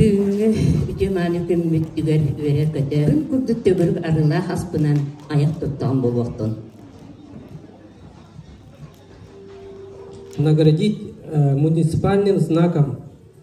Үтүө-мааны күммүт түгэл үөрэ-көтө үн курдук төгүрүк арыылаах аспынан айах туттаҕын буолуохтун. Наградить э, муниципальным знаком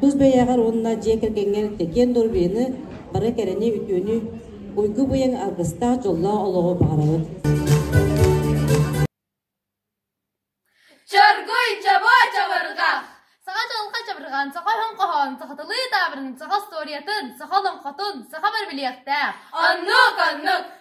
Тус бэйэҕэр уонна дьиэ кэргэҥҥэр киэн доруобуйаны, бары кэрэни, үтүөнү, уйгу-быйаҥ аргыстаах дьоллоох олоҕу баҕарабыт. Чоргуй чобо чабырҕах Саха дьылҕа чабырҕан, саха өһүн хоһоон, саха тылыы таабырын, саха устуоруйатын, саха олоҥхотун, саха барбилиэхтээх. Оннук, оннук!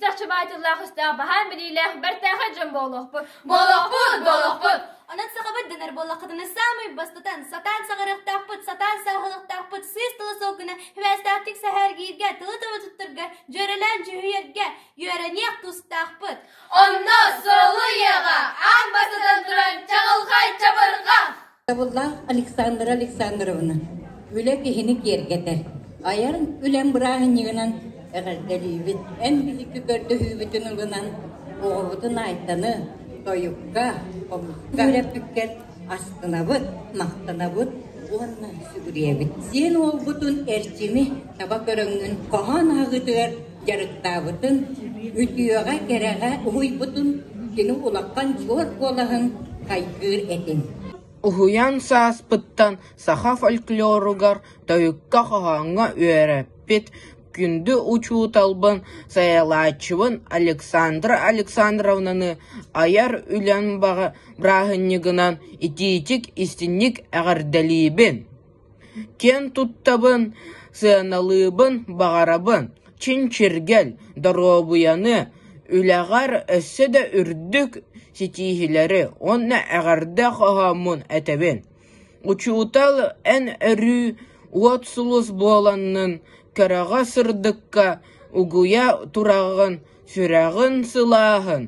Дьахчыбаай тыллаах өстөөх баһаан билиилээх бэртээхэй дьон буолуохпут. Буолуохпут, буолуохпут. Онон саҕабыт дэнэр буоллаххытына саамай бастатан сатаан саҕарыахтаахпыт, сатаан сааһылыахтаахпыт сыыс тыла солкуна хвээстээхтик сэһээргииргэ, тылы тылы туттарга, дьүөрэлээн дьүһүйэргэ үөрэниэх тустаахпыт. Онно солуйаҕа аан бастатан туран чаҕылхай чабырҕах Табыллаах Александра Александровна, үлэ киһини киэргэтэр, айар үлэм бырааһынньыгынан эҕэрдэлиибит, эн биһикки көрдөһүүбүтүн ылынан оҕобутун Айтаны тойукка, хомуска үрэппиккэр астынабыт, махтанабыт уонна сүгүрүйэбит. Сиэн уолбутун Эрчими таба көрөҥҥүн хоһоон ааҕыытыгар дьарыктаабытын, үтүөҕэ-кэрэҕэ уһуйбутун кини улахан суор куолаһын хайгыыр этин. Уһуйан сааспыттан саха фольклоругар тойукка хоһооҥҥо үөрэппит күндү учууталбын, сайалааччыбын Александра Александровнаны айар үлэн баҕа бырааһынньыгынан итиитик-истинник эҕэрдэлиибин! киэн туттабын, сыаналыыбын баҕарабын, чинчиргэл, доруобуйаны, үлэҕэр өссө да үрдүк ситиһиилэри уонна эҕэрдэ хоһооммун этэбин. Учуутал эн өрүү уот сулус буоланнын, кэрэҕэ-сырдыкка угуйа тураҕын, сүрэҕин сылааһын,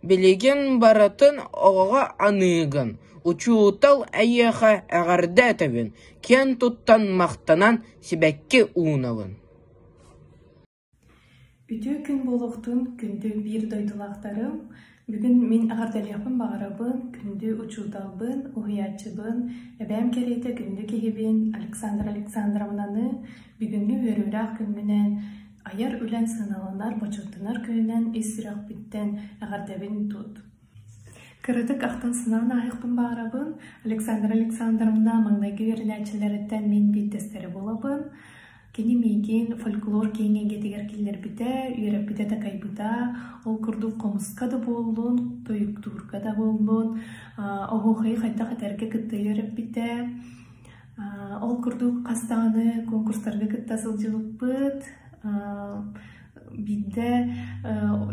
Билигин барытын оҕоҕо аныыгын, учуутал эйиэхэ эҕэрдэ этэбин, киэн туттан махтанан сибэкки уунабын Үтүө күн буолуохтун күндү биир дойдулаахтарым бүгүн мин эҕэрдэлиэхпин баҕарабын күндү учууталбын уһуйааччыбын эбээм кэриэтэ күндү киһибин Александра Александровнаны бүгүҥҥү үөрүүлээх күммүнэн Айар үлэҥ сыаналанар, бочуоттанар күнүнэн ис сүрэхпиттэн эҕэрдэбин тут. Кыратык ахтан-санаан ааһыахпын баҕарабын. Александра Александровна маҥнайгы үөрэнээччилэриттэн мин биирдэстэрэ буолабын. Кини миигин фольклор киэҥ эйгэтигэр киллэрбитэ, үөрэппитэ такайбыта. Ол курдук хомуска да буоллун, тойуктуурга да буоллун, оһуохайы хайдах этэргэ кытта үөрэппитэ. Ол курдук хас даҕаны конкурстарга кытта сылдьыбыппыт. Биирдэ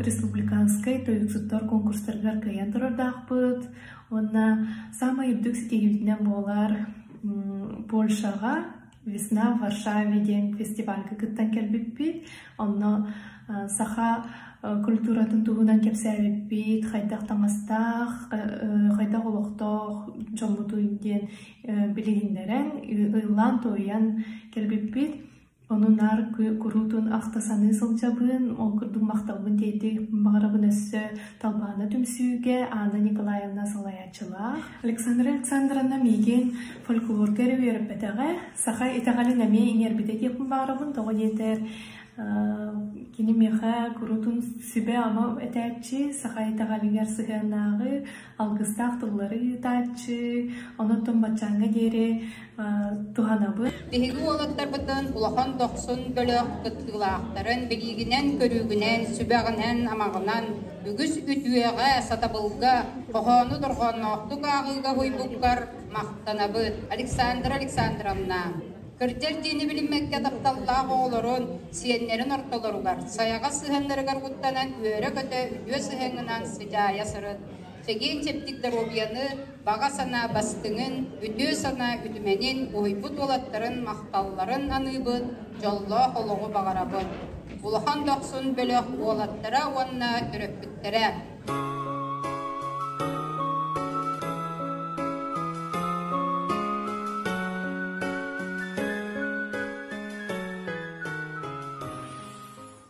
республиканскай тойуксуттар конкурстарыгар кыайан турардаахпыт. Уонна саамай үрдүк ситиһиибитинэн буолар Польшаҕа «Весна в Варшаве» диэн фестивальга кыттан кэлбиппит. Онно саха культуратын туһунан кэпсээбиппит, хайдах таҥастаах, хайдах олохтоох дьоммутуй диэн билиһиннэрэн, ыллаан-туойан кэлбиппит. Ону наар куруутун ахта-саныы сылдьабын, ол курдук махталбын тиэйдик баҕарабын өссө талбаана түмсүүгэ Анна Николаевна салайааччылаах. Александра Александровна миигин фольклорга эрэ үөрэппэтэҕэ, саха итэҕэлин эмиэ иҥэрбитэ диэхпин баҕарабын, тоҕо диэтэр кини миэхэ куруутун сүбэ-ама этээччи, саха итэҕэлигэр сыһыаннааҕы, алгыстаах тыллары ыытааччы, онон баччааҥҥа диэри туһанабын. Биһиги уолаттарбытын улахан дохсун бөлөх кыттыылаахтарын билиигинэн-көрүүгүнэн, сүбэҕинэн-амаҕынан үгүс үтүөҕэ, сатабылга, хоһоону дорҕоонноохтук ааҕыыга уйбуккар махтанабыт. Александра Александровна Кырдьар диэни билиммэккэ тапталлаах оҕолорун, сиэннэрин ортолоругар, сайаҕас сыһыаннарыгар уктанан үөрэ-көтө үтүө сыһыаҥҥынан сыдьаайа сырыт, чэгиэн-чэбдик доруобуйаны, баҕа санаа бастыҥын, үтүө санаа үтүмэнин, уһуйбут уолаттарын махталларын аныыбын, дьоллоох олоҕу баҕарабын. Улахан дохсун бөлөх уолаттара уонна төрөппүттэрэ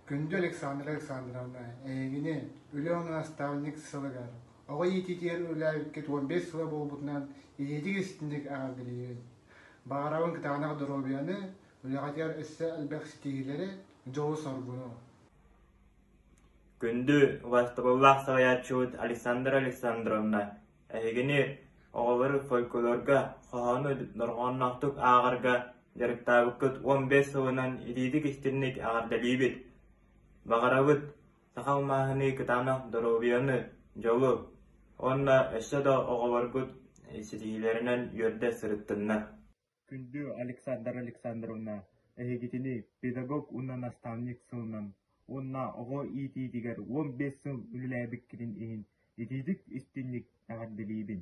Күндү Александра Александровна, эйигини Өлөөн наставник сылыгар оҕо иититигэр үлээбиккит 15 сыла буолбутунан ийэтик истинник аҕалбилиирин. Баҕарабын кытаанах доруобуйаны, үлэҕитигэр өссө элбэх ситиһиилэри, дьолу соргуну. Күндү убастабыллаах салайааччыбыт Александра Александровна эһигини оҕолор фольклорга, хоһоону дорҕоонноохтук ааҕарга дьарыктаабыккыт уон биэс сылынан итиитик-истинник эҕэрдэлиибит! Баҕарабыт саха алмааһыны, кытаанах доруобуйаны, дьолу уонна өссө да оҕолоргут ситиһиилэринэн үөрдэ сырыттыннар! Күндү Александра Александровна, эһигитини педагог уонна наставник сылынан уонна оҕо иитиитигэр уон биэс сыл үлэлээбиккитин иһин итиитик-истинник эҕэрдэлиибин.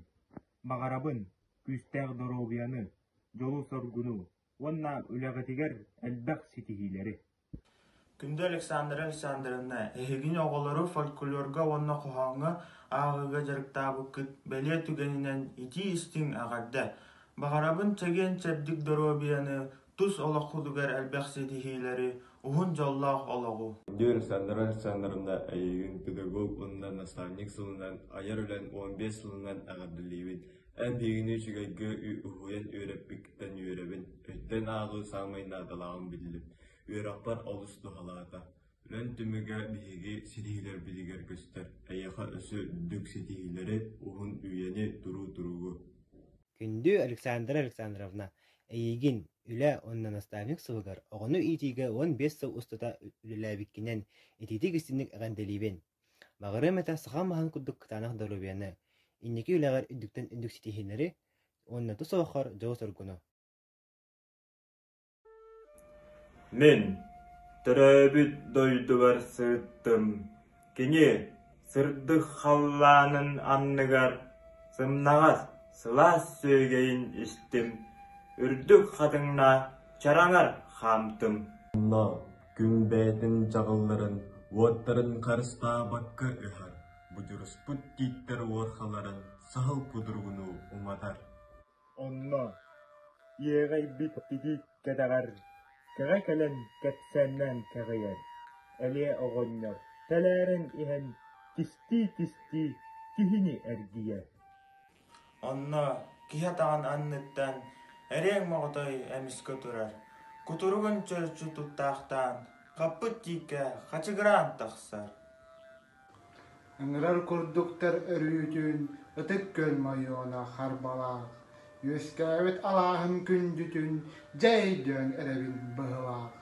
Баҕарабын күүстээх доруобуйаны, дьолу-соргуну уонна үлэҕитигэр элбэх ситиһиилэри. Күндү Александра Александровна, эһигини оҕолору фольклорга уонна хоһооҥҥо ааҕыыга дьарыктаабыккыт бэлиэ түгэнинэн итии-истиҥ эҕэрдэ! Баҕарабын чэгиэн-чэбдик доруобуйаны, тус олоххутугар элбэх ситиһиилэри, уһун дьоллоох олоҕу! Күндү Александра Александровна, эйигин педагог уонна наставник сылынан, айар үлэн уон биэс сылынан эҕэрдэлиибин! Эн биһигини үчүгэйгэ уһуйан үөрэппиккиттэн үөрэбин, өттөн ааҕыы саамай наадалааҕын биллим, үөрэхпэр олус туһалаата. Үлэн түмүгэ биһиги ситиһиилэрбитигэр көстөр, эйиэхэ өссө үрдүк ситиһиилэри, уһун үйэни, туруу туругу. Күндү Александра Александровна, эйигин үлэ уонна наставник сылыгар оҕону иитиигэ уон биэс сыл устата үлэлээбиккинэн итиитик истинник эҕэрдэлиибин. Баҕарыам этэ сахам маһын курдук кытаанах доруобуйаны, инники үлэҕэр үрдүктэн үрдүк ситиһиилэри уонна тус олоххор дьолу-соргуну. Мин төрөөбүт дойдубар сырыттым. Кини сырдык халлаанын анныгар сымнаҕас сылаас сүөгэйин истим, үрдүк хатыҥна чараҥар хаамтым. күн бэйэтин чаҕылларын, уоттарын харыстаабакка ыһар, будьуруспут тииттэр уорхаларын саһыл кудургунуу уматар. Онно иэҕэйбит тигик кэтэҕэр кэҕэ кэлэн кэпсээннээн кэҕийэр, элиэ оҕонньор тэлээрэн иһэн тистии-тистии киһини эргийэр. Онно киһи атаҕын анныттан эриэҥ моҕотой эмискэ турар, кутуругун чөрчү туттаахтаан, хаппыт тииккэ хачыгыраан тахсар Ыҥырар курдуктар өрүүтүн ытык күөл мойуона харбалаах, үөскээбит алааһын күндүтүн дьэ өйдөөн эрэбин быһылаах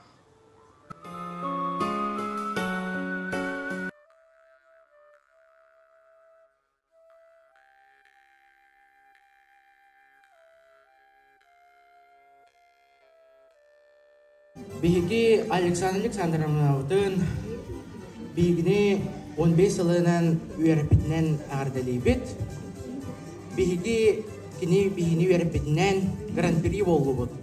Биһиги Александра Александровнабытын биһигини 15 сылынан үөрэппитинэн эҕэрдэлиибит. Биһиги кини биһини үөрэппитинэн гран-при буоллубут.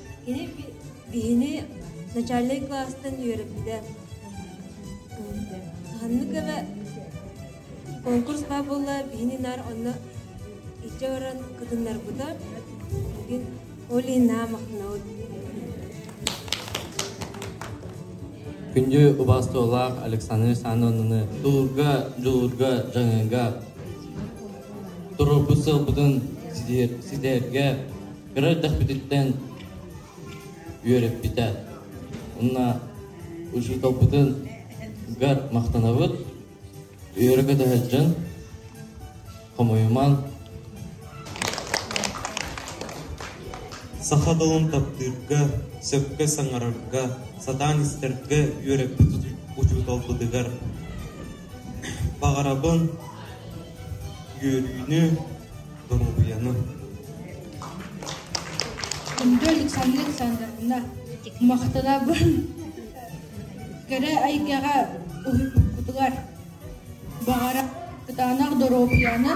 Кини биһини начальнай кылаастан үөрэппитэ. Ханнык эбэ конкурс баа буолла биһини наар онно иччэ баран кытыннарбыта. Бүгүн Оли маахнаут Күндү убастуулаах Александр Санонуны тулурга, дулурга, жаңыга, торопу сылбытын ситэрге, кыра эрдэхпититтэн үөрэппитэ. Уонна учууталбытын гар махтанабыт, үөрэ көтөһөр дьон, хомойуман. Саха тылын таптыырга, сөпкө саҥарарга, сатаан истэргэ үөрэппит учууталбытыгар баҕарабын үөрүүнү, доруобуйаны. Күндү Александра Александровна, махтанабын кэрэ айгаҕа уһуйбуккутугар баҕара кытаанах доруобуйаны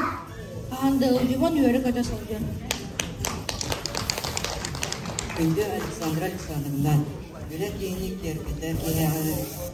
хаһан да илдьибон үөрэ-көтө сылдьар. Күндү Александра Александровна, үлэ киини киэргэтэ киһэҕин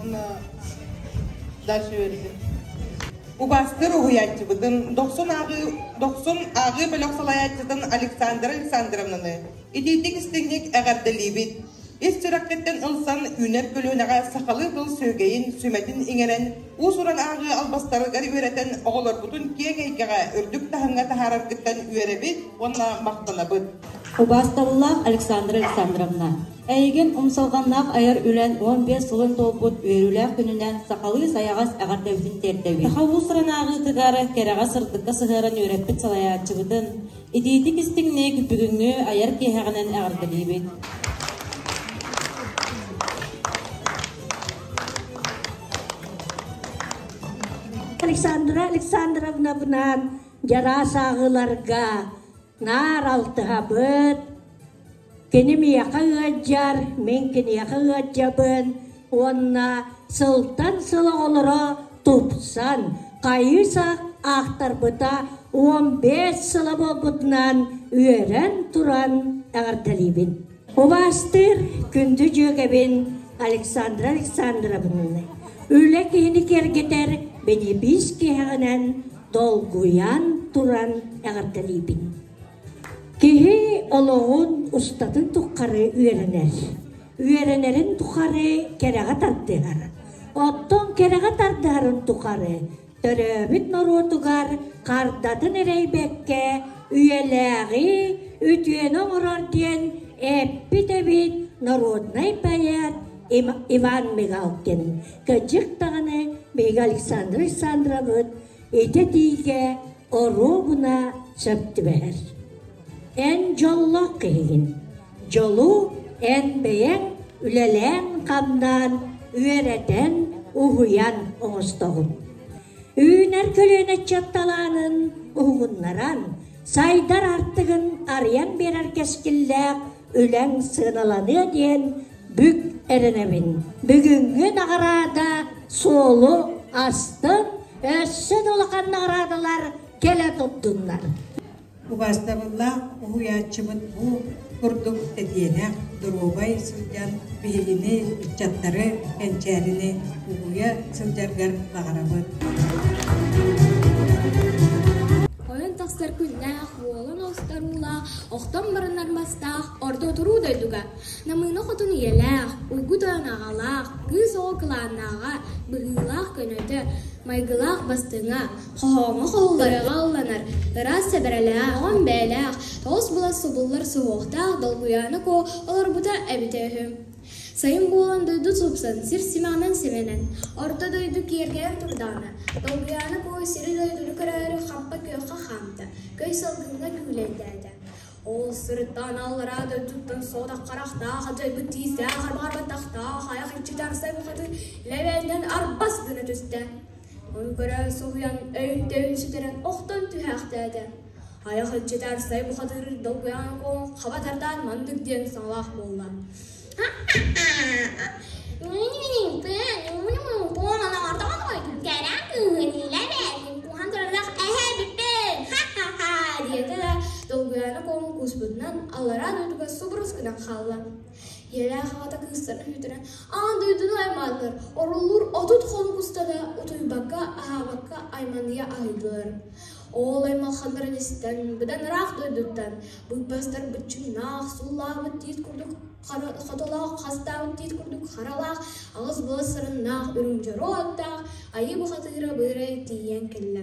Оны даш үөрдүм. Убастыр уһуйааччыбытын, дохсун ааҕыы, дохсун ааҕыы бөлөх салайааччытын Александра Александровнаны итиитик истиҥник эҕэрдэлиибит. Ис сүрэххиттэн ылсан үүнэр көлүөнэҕэ сахалыы тыл сүөгэйин, сүмэтин иҥэрэн, уус-уран ааҕыы албастарыгар үөрэтэн оҕолорбутун киэҥ эйгэҕэ үрдүк таһымҥа таһаараргыттан үөрэбит уонна махтанабыт. Убаастабыллаах Александра Александровна! Эйигин умсулҕаннаах айар үлэҥ уон биэс сылын туолбут үөрүүлээх күнүнэн сахалыы сайаҕас эҕэрдэбитин тиэрдэбит. Саха уус санааҕытыгар кэрэҕэ-сырдыкка сыһыаран үөрэппит салайааччыбытын, итиитик-истиҥник бүгүҥҥү айар киэһэҕинэн эҕэрдэлиибит. Александра Александровнабынан дьараас ааҕыыларга Наар алтыһабыт. Кини миэхэ ыалдьар, мин киниэхэ ыалдьабын уонна сылтан сыл оҕолоро тупсан, хайыы-сах аахтарбыта уон биэс сыла буолбутунан үөрэн туран эҕэрдэлиибин. Убаастыыр күндү дьүөгэбин Александра Александровна, үлэ киһини кэргэтэр бэлиэпиис киэһэҕинэн долгуйан туран эҕэрдэлиибин. Киһи олоҕун устатын тухары үөрэнэр. Үөрэнэрин тухары кэрэҕэ тардыһар. Оттон кэрэҕэ тардыһарын тухары Төрөөбүт норуотугар хардатын эрэйбэккэ үйэлээҕи үтүөнү оҥорор диэн эппит эбит норуодунай поэт Иван Мигалкин. Кэдьик даҕаны биһиги Александр Александровыт итэ-тиигэ оруобуна сөп түбэһэр. Эн дьоллоох киһигин. дьолу эн бэйэҥ үлэлээн-хамнаан, үөрэтэн, уһуйан оҥостоҕун. Үүнэр көлүөнэ аччатталаанын уһугуннаран, сайдар артыгын арыйан биэрэр кэскиллээх үлэҥ сыаналаныа диэн бүк эрэнэбин. Бүгүҥҥү наҕараада суолу астын, өссө да улахан наҕараадалар кэлэ турдуннар. Убаастабыллаах уһуйааччыбыт бу курдук тэтиэнэх, доруобай сылдьан биһигини, ыччаттары, кэнчээрини угуйа сылдьаргар баҕарабыт. Ойон тахсар күннээх уолан устаруулаах, охтон баран армастаах, орто туруу дойдуга. Намыына хотун ийэлээх, угут ойон аҕалаах, кыыс оҕо кылааннааҕа, быһыылаах көнөтө, майгылаах бастыҥа, Хоһооҥҥо хоһулларыаҕа алланар, ыраас сэбэрэлээх, оҕом бэйэлээх, оҕус-былас субуллар суһуохтаах долгуйааны коо олорбута эбитэ үһү. Сайын буолан дойду супсан, сир симаҕынан симэнэн, орто дойду киэргэйэн турдаҕына, долгуйааны коо сири-дойдуну көрөөрү хампа-күөххэ хаамта, көй салгыҥҥа күүлэйдээтэ. Ол сырыттаан аллараа дойдуттан соотах харахтаах дьайбыт тиистээх арбаарбаттахтаах айах иччитэ арсай букатын лэбээннэн арбас гына түстэ. көрө суһуйан өйүн-төйүн сүтэрэн охтон түһээхтээтэ айах ыччатар сай бухатыыр долгуйаан куоҥ хаба тардаан мандык диэн саҥалаах буолла диэтэ долгуйаана куоҥ кууспутунан аллараа дойдуга субурус гынан хаалла ийэлээх аҕата кыыстара үүтэрэн аан дойдуну айманнар оруллуур отут хонук устата утуйбакка аһаабакка айманыйа аһыйдылар ол аймалханнарын истэн быдан ыраах дойдуттан быыбастар быччыҥнаах суулаабыт тиит курдук хотолоох хастаабыт тиит курдук харалаах аҕыс былас сарыннаах үрүҥ дьоруо аттаах айыы бухатыыра быырай тиийэн кэллэ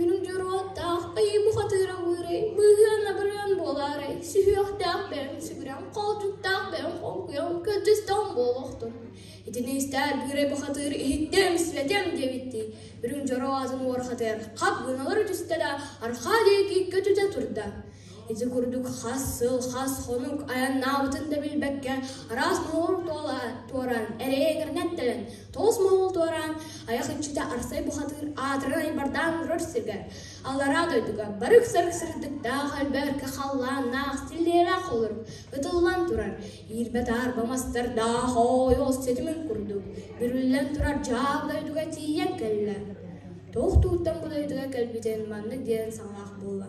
Үрүҥ дьоруойдаах айыыбыт атыыраҕыырай, быыһыан-абырыан буолаарай, сүһүөхтээх бэйэҥ сүгүрэн, холдьуктаах бэйэҥ холкуйан кырдьыстаҕыҥ буолуохтун. Итини истээт Быырай Бухатыыр «Иһиттиэм, сибэтиэм» диэбиттии, үрүҥ дьороо атын уорхатыгар хап гыналары түстэ да, арҕаа диэки көтүтэ турда. Ити курдук хас сыл, хас хонук айаннаабытын да билбэккэ араас моҕол туоран, эрэйэгиринэн тэлэн, тоҕус моҕол туораан, айах үччүтэ арсай бухатыыр аатырай бардаан турар сиргэр, аллараа дойдуга барык сарык сырдыктаах өлбөркө халлаан наах силлиэлээх холорук ытыллан турар, иирбэ-таарба мастардаах оойол сэтимин курдук бүрүллэн турар дьаал дойдуга тиийэн кэллэ. Туох тууттан бу дойдуга кэлбитин маннык диэн саҥалаах буолла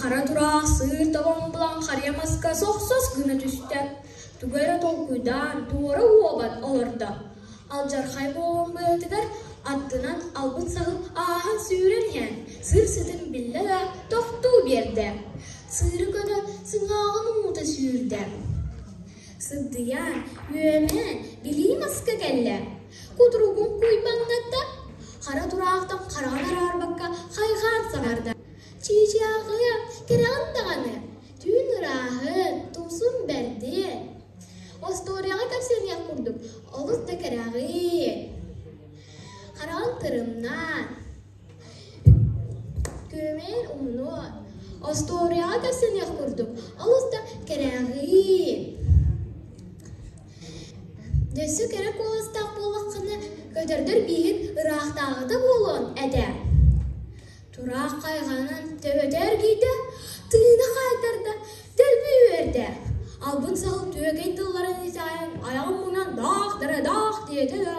Хара тураах сыыр табан булан харыйа маска сохсос гына түстэ, тугу эрэ толкуйдаан туора уобат олордо, алдьархай буолан быһыытыгар аттынан албын саһыл ааһан сүүрэн иһэн сыр-сытын биллэ да тохтуу биэрдэ, сыыры көтө сыҥааҕын уута сүүрдэ. Сыддыйа, үөмэ, билии маска кэллэ, кутуругун куйбандата, хара тураахтан хараҕын араарбакка хайҕаан саҥарда: Чыычаахыам, кэрэҕин даҕаны, түүн ырааһын, тумсун бэрдин. Остуоруйаҕа кэпсэниэх курдук олус да кэрэҕин. Хараҕын тырымнан, күөмэйин умнун. Остуоруйаҕа кэпсэниэх курдук олус да кэрэҕин. Өссө кэрэ куоластаах буоллаххына, көтөрдөр биигин ыраахтааҕыта буолуон этэ. Тураах хайҕаанан төбөтө эргийдэ, тыына хаайтарда, дэлби үөрдэ, албын саһыл түөкэй тылларын исэһэн айаҕын мунан даах-дара-даах диэтэ да,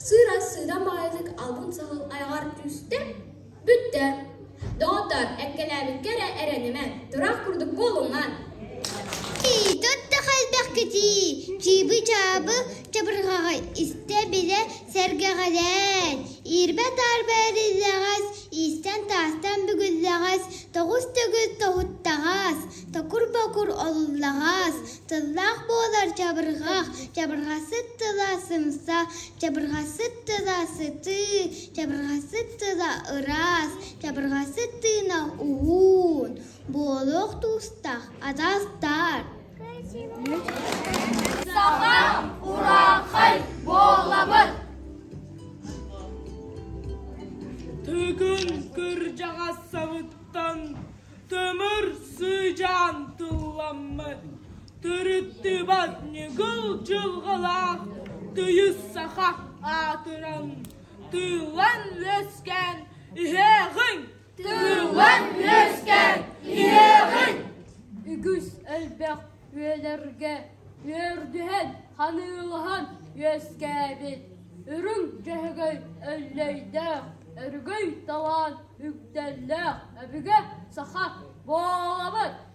сыыра-сыыдам баҕайытык албын саһыл айаҕар түстэ, бүттэ. «Доҕоттор, эккэлээбиккэ эрэ эрэнимэҥ, тураах курдук буолуҥҥан» «Эй, тот да хайдах кэтии, чыыбы-чаабы чабырҕаҕай истэ-билэ Сэргэҕэлээн, иирбэ-таарба эриллэҕэс, иистэн-таастан бүгүллэҕэс, тоҕус төгүл тоһуттаҕас, токур-бокур олуллаҕас, тыллаах буолар чабырҕах, чабырҕасыт тыла сымса, чабырҕасыт тыла сытыы, чабырҕасыт тыла ыраас, чабырҕасыт тыына уһуун, буолуох туустах, атаастаар Саҥа урааҥхай буоллабыт! Тыгын кырдьаҕастарыттан тымыр сыдьаан тылламмыт, тырыттыбат ньыгыл дьылҕалаах тыйыс саха аатыран, тыылан үөскээн иһээҕиҥ! Тыылан үөскээн иһиэҕиҥ! Үгүс элбэх үйэлэргэ үөрдүһэн, ханыылаһан үөскээбит үрүҥ дьөһөгөй Өллөйдөөх өрөгөй талаан үгдэллээх өбүгэ саха буолабыт!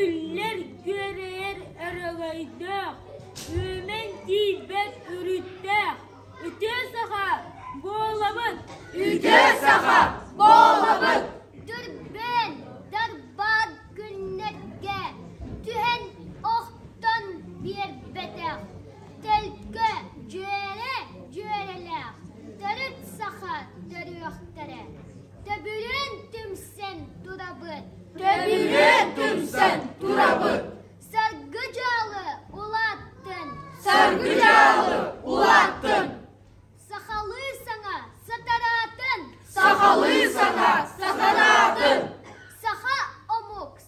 Иллэр-күөрэйэр аралайдаах, үөмэн тиийбэт үрүттээх, үтүө саха буолабын! Үтүө саха буолабын! Дүрбээн Дарбаар күннэргэ түһэн охтон биэрбэтэх, тэлкэ дьүөрэ-дьүөрэлээх төрүт саха төрүөхтэрэ Төбүрүн түмсэн турабыт. Төбүрүн түмсэн турабыт. Саргы дьаалы улааттын. Саргы дьаалы улааттын. Сахалыы саҥа сатараатын. Сахалыы саҥа сатараатын.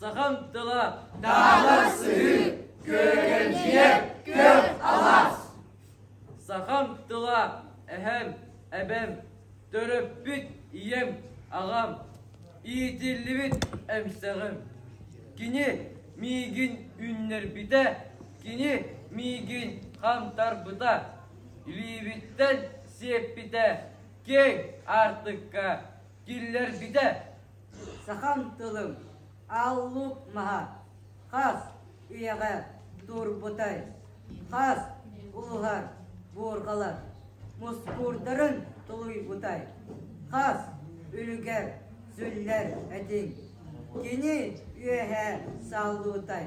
Сахам тыла таалас сыһыы, күргэнчийэ күөх алаас. Сахам тыла эһэм, эбэм, төрөппүт ийэм, аҕам, иитиллибит эмсэҕим. Кини миигин үннэрбитэ, кини миигин хантарбыта, илиибиттэн сиэппитэ, киэҥ аартыкка киллэрбитэ. Сахам тылым, Аллук маһа, хас ийэҕэ турбутай, хас ууһар буурҕалар мускуурдарын тулуйбутай, хас үлүгэр сүллэр этиҥ, кини үөһэ саллуутай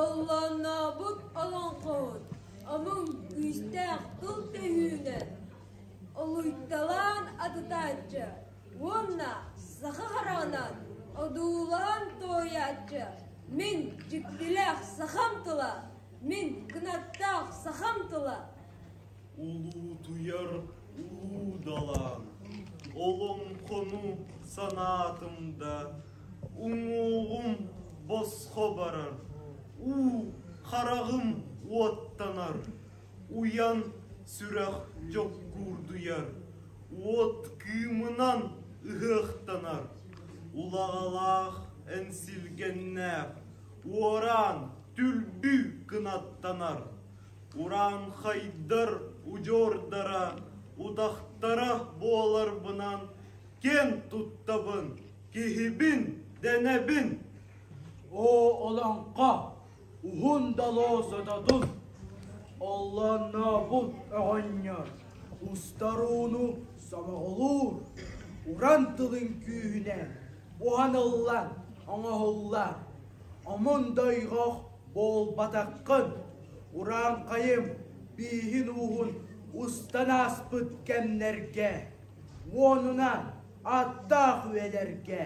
Оллооннообут олоҥхоһут омук күүстээх тыл төһүүнэн олуйталаан атытааччы уонна саха хараҕынан одуулаан туойааччы мин дьиктилээх сахам тыла мин кынаттаах сахам тыла Улуутуйар уудалаан олоҥхону санаатым да уҥуоҕум босхо барар, уу хараҕым уоттанар, уйан сүрэх дьоккуурдуйар, уот кыымынан ыһыахтанар. Улаҕалаах эҥсилгэннээх уораан түлбүү кынаттанар. Ураанхайдар удьуордара утахтара буоларбынан киэн туттабын киһибин дэнэбин Оо олоҥхо уһун далоо сототун Оллооннообут оҕонньор устарууну сомоҕолуур уран тылын күүһүнэн буһаныллан оҥоһуллар омун дойҕох Буолбатаххын, урааҥхайым бииһин-ууһун устан ааспыт кэмнэргэ уонунан аттаах үйэлэргэ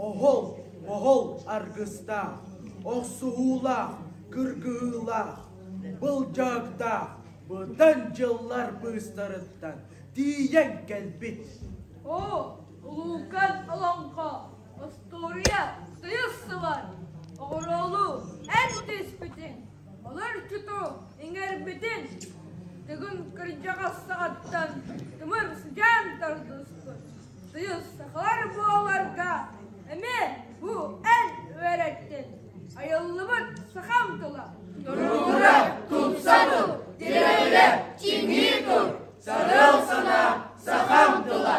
оһол-моһол аргыстаах, охсуһуулаах, кыргыһыылаах, былдьаактаах бытан дьыллар быыстарыттан тиийэн кэлбит. Оо, улуукан олоҥхо! Остуоруйа тыйыс ылан, оҕуруолуу эн түспүтүҥ, олорчуту иҥэрбитин Тыгын кырдьаҕас саҕаттан тымырдьаан тардыспыт тыйыс сахалар буоларга эмиэ бу эн үөрэттин айыллыбыт сахам тыла. Туруула, тупса тул, тирэлэ, чиҥии тур, сарыл санаа, сахам тыла.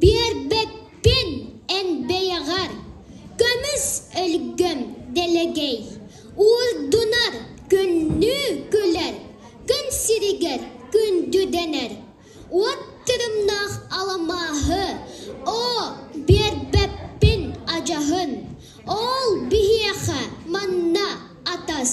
Биэрбэппин эн бэйэҕэр, көмүс өлгөм дэлэгэй, уурдунар күннүү күлэр, күн сиригэр күндү дэнэр. Уот тырымнаах аламааһы оо биэрбэппин адьаһын, ол биһиэхэ манна атас.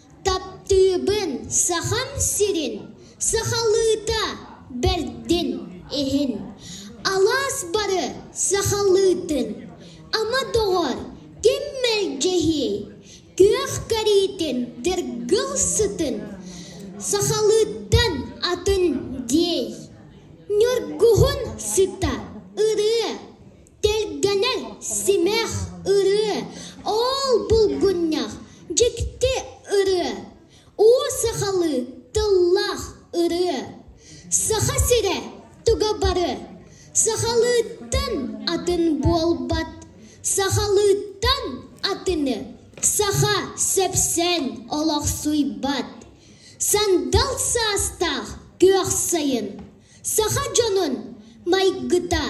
Таптыыбын Сахам сирин сахалыыта бэрдин иһин Алаас бары сахалыытын ама доҕор ким мэлдьэһиэй Күөх кариитин дыргыл сытын сахалыыттан атын диэй Ньургуһун сыта ырыа Тэлгэнэн симэх ырыа, оол булгунньах, дьикти ырыа, уу сахалыы тыллаах ырыа, Саха сирэ туга бары сахалыыттан атын буолбат, сахалыыттан атыны саха сэпсэн олохсуйбат, сандал саастаах күөх сайын Саха дьонун майгыта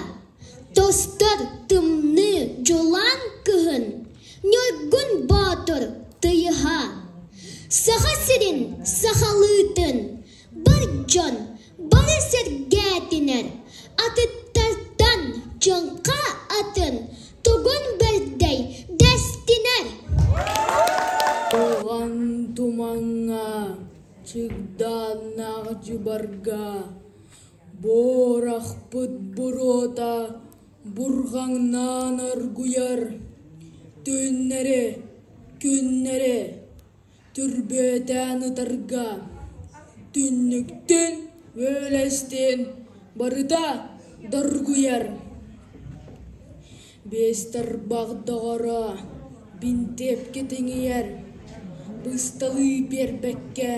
тостор тымныы дьулаан кыһын Ньургун Боотур тыйыһа Саха сирин сахалыытын бар дьон бары сэргээтинэр атыттартан дьоҥха атын тугун бэрдэй дэстинэр Туган тумаҥҥа Чыгдааннаах дьыбарга буорахпыт буруота бурҕаҥнаан оргуйар түүннэри, күннэри түрбүөтээн ытарга түннүктүн, үөлэстиин барыта доргуйар Биэстэрбах доҕоро, бинтиэпкэ тиҥийэр, бысталыы биэрбэккэ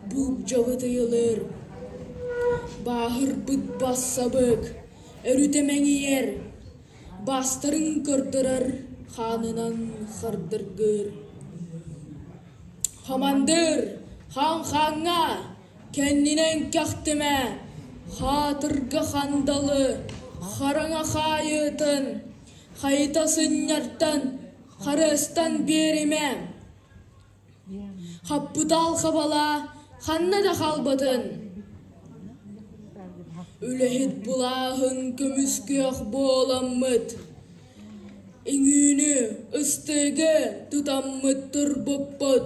буулдьабыт ыйылыр, бааһырбыт бассабык өрүтэ мэҥийэр, баастарын көрдөрөр хаанынан хардыргыыр. Хамандыыр, хаан хааҥҥа! Кэннинэн кэхтимэ, хаатырга хандалы хараҥа хаайыытын хайыта сынньартан харыстан биэримэ. Хаппытаал хабала ханна да хаалбатын. Үлэһит былааһын көмүскүөх буоламмыт. Иҥүүнү, ыстыгы тутаммыт турбуппут.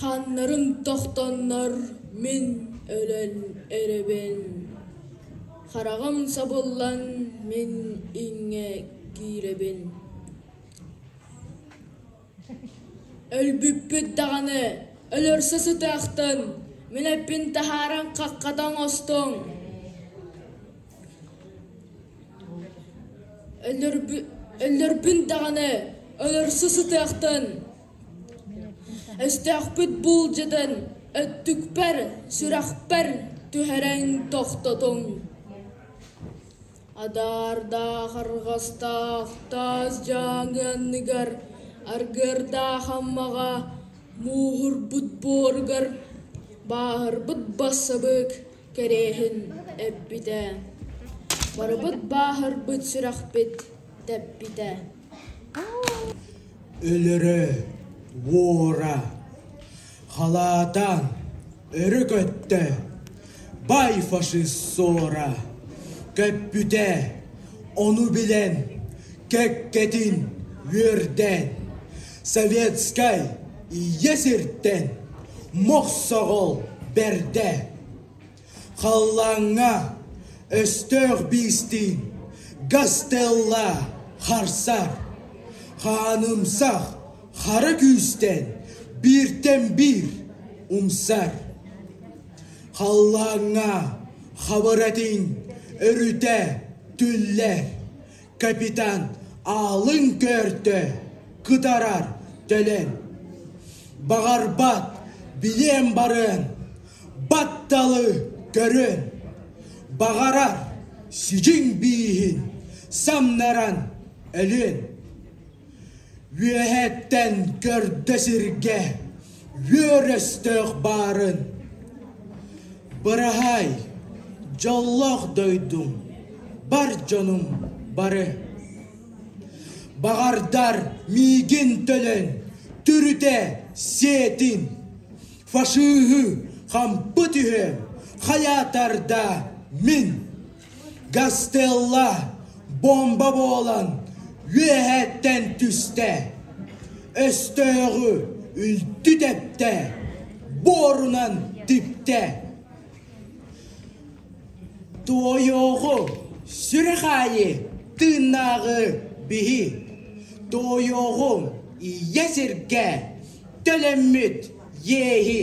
Ханнарын тохтоннор мин өлөн эрэбин Хараҕым сабыллан мин иҥэ киирэбин Өлбүппүт даҕаны өлөрсө сытыахтын мин эппин таһааран хаххата оҥостуҥ Өллөрбүн даҕаны өлөрсө сытыахтын, өстөөхпүт буулдьатын өттүкпэр, сүрэхпэр түһэрэн тохтотуҥ Адаардаах арҕастаах таас дьааҥы анныгар аргыардаах аммаҕа мууһурбут буоругар бааһырбыт бассабыык Кэриэһин эппитэ: «Барыбыт бааһырбыт сүрэхпит тэппитэ» Өлөрө, уора, халаатан өрө көттө, бай фашист ссора көппүтэ, ону билэн кэккэтин үөрдэн Советскай иэсиртэн мохсоҕол бэрдэ. Халлааҥҥа өстөөх биистиин Гастелла харсар. Хаанымсах хара күүстэн бииртэн биир умсар. Халлааҥҥа хабыр этиҥ өрүтэ түллэр. капитан аалын көөртө кытарар төлөн баҕарбат билиэн барыан батталы көрөн баҕарар сидьиҥ бииһин самнаран өлүөн Үөһэттэн көрдө сиргэ үөр өстөөх баарын. Быраһаай, дьоллоох дойдум, бар дьонум бары. Баҕардар миигин төлөн, түрүтэ сиэтин. Фашиһы хампы түһэ, хайаатарда мин. Гастелло бомба буолан үөһэттэн түстэ, өстөөҕү үлтү тэптэ, буорунан типтэ. Туойуоҕу сүрэх аайы тыыннааҕы биһи, туойуоҕум ийэ сиргэ төлөммүт иэһи,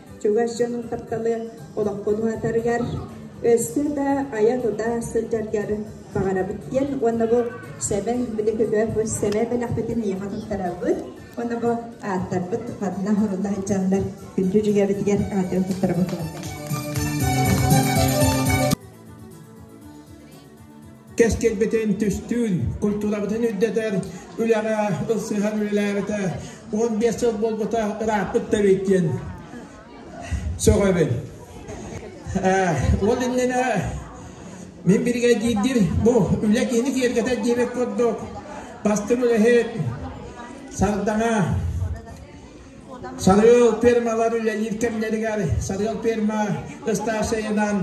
чугас дьонун кутталы олохпун уһатарыгар, өссө да айа-тута сылдьаргар баҕарабыт диэн уонна бу Сэбэ билигитэ бу Сэбэ бэлэхпитин ийэҕэ туттарабыт уонна бу ааттарбыт хатана хорулла сылдьаллар күндү дьүгэбитигэр аатын туттарабыт кэскилбитин түстүүр, культурабытын үрдэтэр үлэҕэ ылсыһан үлэлээбитэ уон биэс сыл буолбута ырааппыт да эбит диэн сөҕөбүн. Ол иннинэ мин биригэдиирдир бу үлэ киини киэргэтэр диэбит курдук бастыҥ үлэһит, сардаҥа, Сарыал пермалар үлэлиир кэмнэригэр Сарыал перма ыстааччайынан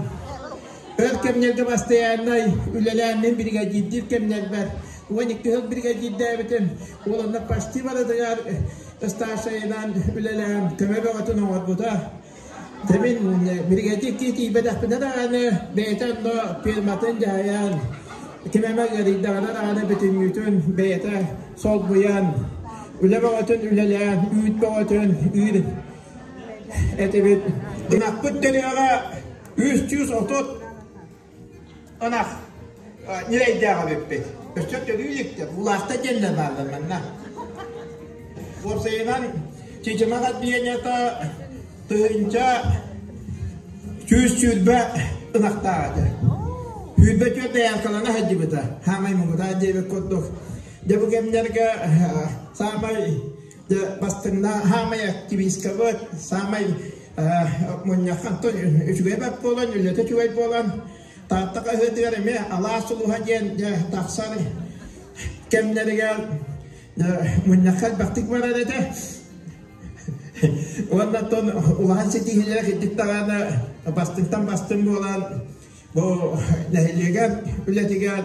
өр кэмнэргэ бастайааннай үлэлээммин биригэдьиирдиир кэмнэрбэр уон икки сыл биригэдьиирдээбитим уоланна почти барытыгар ыстааччайынан үлэлээн көмө бөҕөтүн оҥорбута Дэмин миргэтик тиитийбэтэхпинэ даҕаны бэйэтэ онно фирматын дьаһайан ким эмэ ыарыйдаҕына даҕаны бүтүннүүтүн бэйэтэ солбуйан үлэ бөҕөтүн үлэлээн үүт бөҕөтүн үүр этибит. Ынахпыт төрүөҕэ үс сүүс отут Ынах ньирэйдээх эбиппит. Өссө төлүү иликтэ. Улаахта диэннэр бааллар манна. Уопсайынан, чичимэх отделениета тыһынча сүүс сүүрбэ ынахтаах этэ. Сүүрбэ түөрт айаалкалана саддьыбыта. Хаамай муҥутаа диэбит курдук. Дьэ бу кэмнэргэ саамай бастыҥна хаамай активисткабыт саамай мунньах Антон үчүгэй бат буолан үлэтэ үчүгэй буолан тааттака ыһытыгар эми алаас улуһа диэн тахсар кэмнэригэр мунньахха элбэхтик барар этэ уонна тон улахан ситиһиилээх үрдүк даҕаны бастыҥтан бастыҥ буолан бу нэһилиэгэр үлэтигэр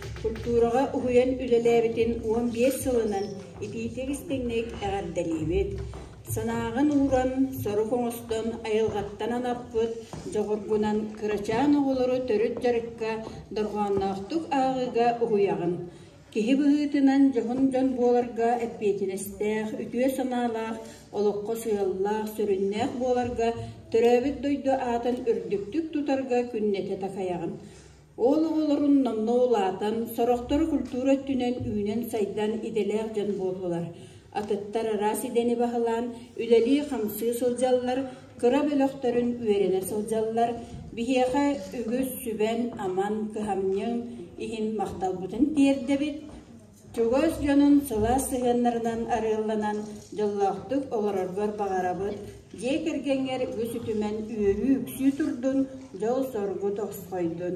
культураҕа уһуйан үлэлээбитин уон биэс сылынан итиитик-истиҥник эҕэрдэлиибит! Санааҕын ууран, сорук оҥостон, айылҕаттан анаппыт дьоҕургунан кырачаан оҕолору төрүт дьарыкка, дорҕоонноохтук ааҕыыга уһуйаҕын. Киһи быһыытынан дьоһун дьон буоларга эппиэтинэстээх, үтүө санаалаах, олоххо сыаллаах, сүрүннээх буоларга, төрөөбүт дойду аатын үрдүктүк тутарга күннэтэ такайаҕын. Ол оҕолорун номно улаатан, сорохторо культура өттүнэн үүнэн-сайдан идэлээх дьон буоллулар, атыттар араас идэни баһылаан, үлэлии-хамсыы сылдьаллар, кыра бөлөхтөрүн үөрэнэ сылдьаллар, биһиэхэ үгүс сүбэн-аман, кыһамньыҥ иһин махталбытын тиэрдэбит. чугас дьонун сылаас сыһыаннарынан арыалланан дьоллоохтук олороргор баҕарабыт дьиэ кэргэҥҥэр үгүс үтүмэн үөрүү-үксүү турдун дьол-соргу тосхойдун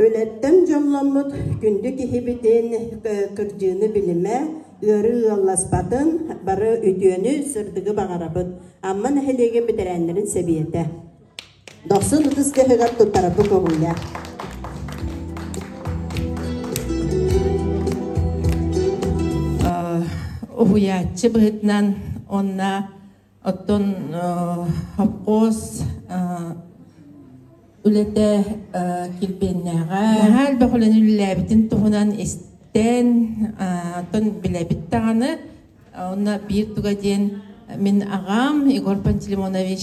Үлэттэн дьолломмут күндү киһибитин кырдьыыны билимэ, ыары ыалласпатын, бары үтүөнү, сырдыгы баҕарабыт Амма нэһилиэгин бэтэрээннэрин сэбиэтэ. Дохсун ытыс дьаһыгар туттарарбыт уруһуйа. Уһуйааччы быһытынан уонна Оттон хопхуос үлэтэ килбиэннээҕэ. Наһаа элбэх үлэни үлэлээбитин туһунан истэн, оттон билэбит даҕаны, онно биир туга диэн мин аҕам Егор Пантелеймонович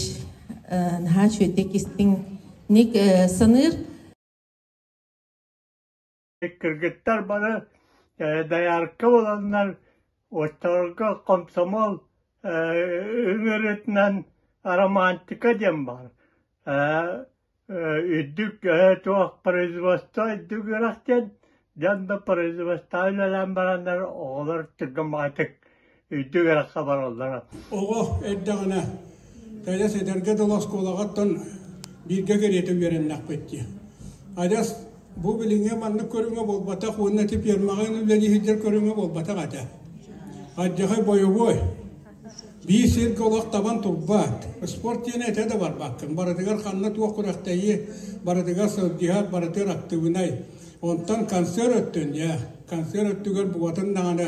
наһаа үчүгэйдик истиҥник саныыр. кыргыттар бары доярка буоланнар оччолорго комсомол ыҥырытынан романтика диэн баар үрдүк туох производство үрдүк үөрэх диэн дьон да производствоҕа үлэлээн бараннар оҕолор түргэмаҕатык үрдүк ыраахха бараллара. Оҕо эрдэҕинэ кэдьэс эдэргэ дылы оскуолаҕыттан бииргэ кэриэтэ үөрэннэхпит дии. Адьас бу билиҥҥи маннык көрүҥэ буолбатах уонна ити пиэрмэҕэ үлэлиһиһдэр көрүҥэ буолбатах этэ. Адьахай бойобуой. Биир сиргэ олох табан турбаат, спорт диэн этэ да барбаккын. Барытыгар ханна туох күрэхтэһии, барытыгар сылдьыһаат, барытыгар актыыбынай. Онтон концерт өттүн, дьэ, концерт өттүгэр букатын даҕаны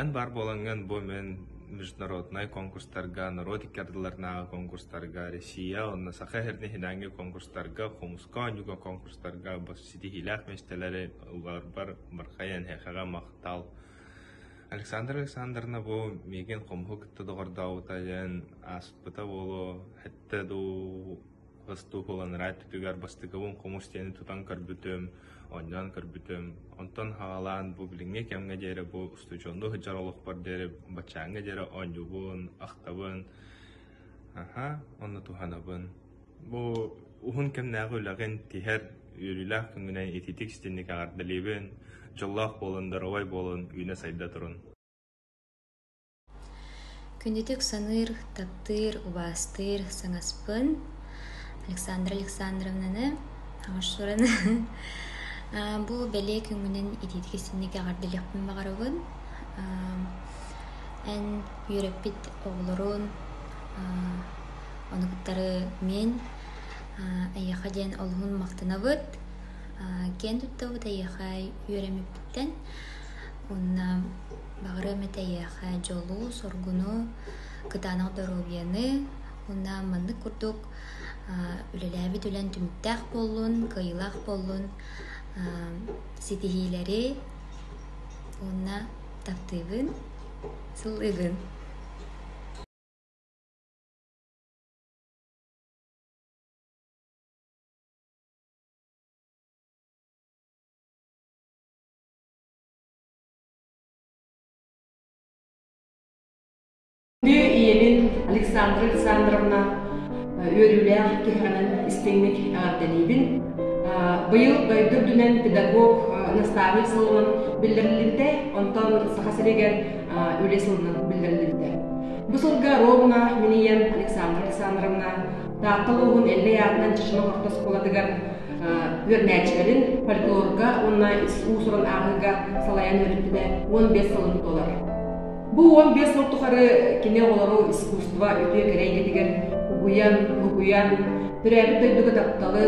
Эн баар буолаҥҥын бу мин международнай конкурстарга, норуот икки ардыларынааҕы конкурстарга, Россия уонна Саха иһирдэ иһинээҥҥи конкурстарга, хомуска оонньууга конкурстарга ситиһиилээх миэстэлэри ыларбар бархайан эһиэхэҕэ махтал. Александра Александровна бу миигин хомуһу кытта доҕордообута диэн ааспыта буолуо, этэ дуу Остуопаланараа өттүгэр бастакыбын хомус диэни тутан көрбүтүм, онньоон көрбүтүм. Онтон хаалан бу билиҥҥи кэмҥэ диэри бу устудьуоннуу сылдьар олохпор диэри баччааҥҥа диэри оонньуубун, ахтабын, аһа, онно туһанабын. Бу уһун кэмнээҕи үлэҕин тиһэр үөрүүлээх күҥҥүнэн ититик истинник эҕэрдэлиибин, дьоллоох буолан, доруобай буолан, үүнэ-сайда турун. Күннэтик саныыр, таптыыр, убаастыыр саҥаспын Александра Александровнаны оҥорсорун бу бэлиэ күҥҥүнэн итиитик истинник эҕэрдэлиэхпин баҕарабын. Эн үөрэппит оҕолорун ону кытары мин эйиэхэ диэн олуһун махтанабыт. Киэн туттабыт эйиэхэ үөрэммиппиттэн. Уонна баҕарыам этэ эйиэхэ дьолу, соргуну, кытаанах доруобуйаны. Уонна маннык курдук үлэлээбит үлэҥ түмүктээх буоллун, кыайыылаах буоллун. Ситиһиилэри уонна таптыыбын, сылыыгын. ийэбин Александра Александровна үөрүүлээх киһэҕинэн истиҥник эҕэрдэлиибин. Быйыл дойду үрдүнэн педагог наставник сылынан биллэриллибитэ, онтон Саха сиригэр үлэ сылынан биллэриллибитэ. Бу сылга ровно минийэн Александра Александровна Таатта улууһун Эллэй аатынан Чешман орто оскуолатыгар үөрэнээччилэрин фольклорга уонна уусуран ааҕыыга салайан үөрэттилэр уон биэс сылын толор. Бу уон биэс сыл тухары кини оҕолору искусство үтүө кэрэ эйгэтигэр угуйан, угуйан, төрөөбүт дойдуга тапталы,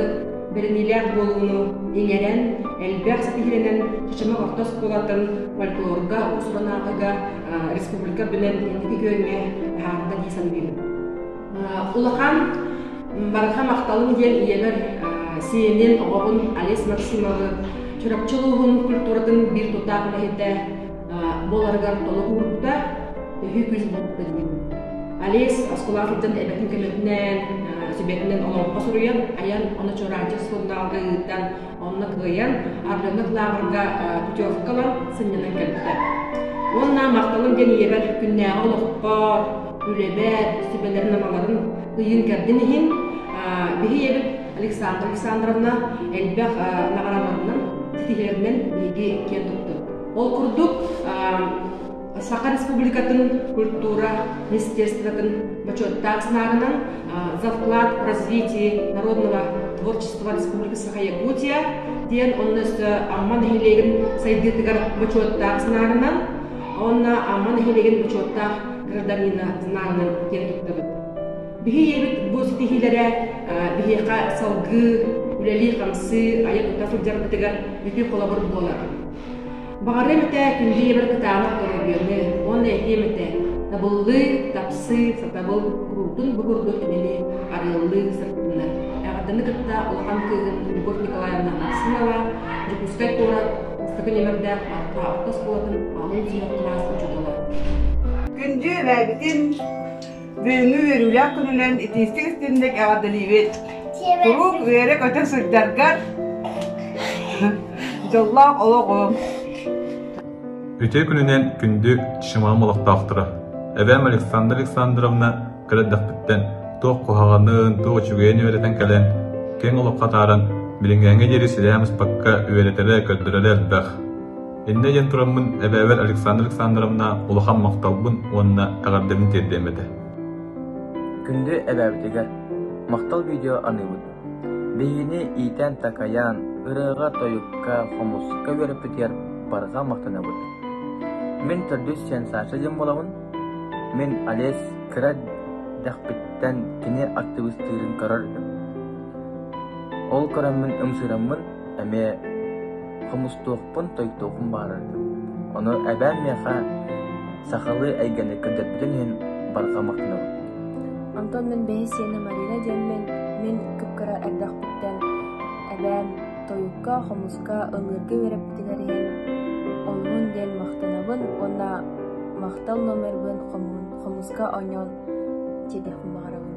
бэриниилээх буолууну иҥэрэн, элбэх ситиһинэнэн Чычымах орто оскуолатын фольклорга, уусуран ааҕыыга республика бөлөн инники күөҥҥэ таһаарда дии саныыбын. улахан барҕа махталым диэн ийэбэр сиэнин оҕоҕун олесь максимовы чурапчы улууһун культуратын биир тутаах үлэһитэ буоларыгар толук уурбута төһүү күүс буолбута диибин олесь осколаах сылдьан эбэтин көмөтүнэн сүбэтинэн олоҥхо суруйан айан ону чуораанчык сурунаалга ыытан Онно кыайан, Ардыных лааҕырга путевка ылан сынньанан кэлбитэ. Уонна махталым диэн ийэбэр күннээҕи олохпор, үлэбэр, сүбэлэрин-амаларын ыйын кэрдин иһин биһи ийэбит Александра Александровна элбэх наҕараларынан, титиһэринэн биһиги киэн туттубут. Ол курдук Саха Республикатын культура министерствотын бочуоттаах санаарынан Завклад развития народного творчества Республики Саха Якутия диэн онно өссө Амма нэһилиэгин сайдыытыгар бочуоттаах санаарынан уонна Амма нэһилиэгин бочуоттаах гражданина санаарынан киэрэ туттабыт. Биһи ийэбит бу ситиһиилэрэ биһиэхэ салгыы, үлэлии-хамсыы, айа-тута сылдьарбытыгар үтүө холобур буолар. Баҕарыам этэ үллиэбэр кытаанах өрөбүөнү уонна этиэм этэ табыллыы, тапсыы, сатабыл куруутун бу курдук имини арыаллыы сырдыннар. Эҕэтини кытта улахан кыыгын Егор Николаевна Нарсынова, Дьокуускай куорат бастакы нөмөрдээх артаабыта оскуолатын алын сүһэх кылаас учуутала. Күндү эбээбитин, Бүгүҥҥү үөрүүлээх күнүнэн итиистик истинник эҕэрдэлиибит! Куруук үөрэ-көтө сылдьаргар дьоллоох олоҕуҥ! Үтүө күнүнэн күндү Шимам олохтоохторо! Эбэм Александра Александровна кэлэрдэхпиттэн туох куһаҕанын, туох үчүгэйин үөрэтэн кэлэн, киэҥ олоххо атааран, билиҥҥээҥҥэ диэри силээн быспакка үөрэтэрэ, көрдөрөрө элбэх. Иннэ диэн тураммын эбээбэр Александра Александровна улахан махталбын уонна эҕэрдэбин тиэрдиэм этэ. Күндү эбээбитигэр махтал видео аныыбыт. Биһигини иитэн-такайаан, ырыаҕа-тойукка, хомусукка үөрэппитигэр барҕа махтанабыт. Мин төрдүс сиэн Саша диэн буолабын. Мин Олесь кыра дэхпиттэн кини актыбыстыырын көрөр. Ол көрөммүн ымсыыраммын эмиэ Хомустуохпун, тойуктуохпун баҕарар этим. Ону эбээм миэхэ сахалыы эйгэни көрдөрбүтүн иһин барҕа махтанабын Онтон мин бэһисиэнэ Марина диэммин, мин кып-кыра эрдэхпиттэн эбээм тойукка, хомуска ыллыырга үөрэппитигэр иһин оннун диэн махтанабын уонна махтал номербын хомуска оонньоон сиэтэхпин баҕарабын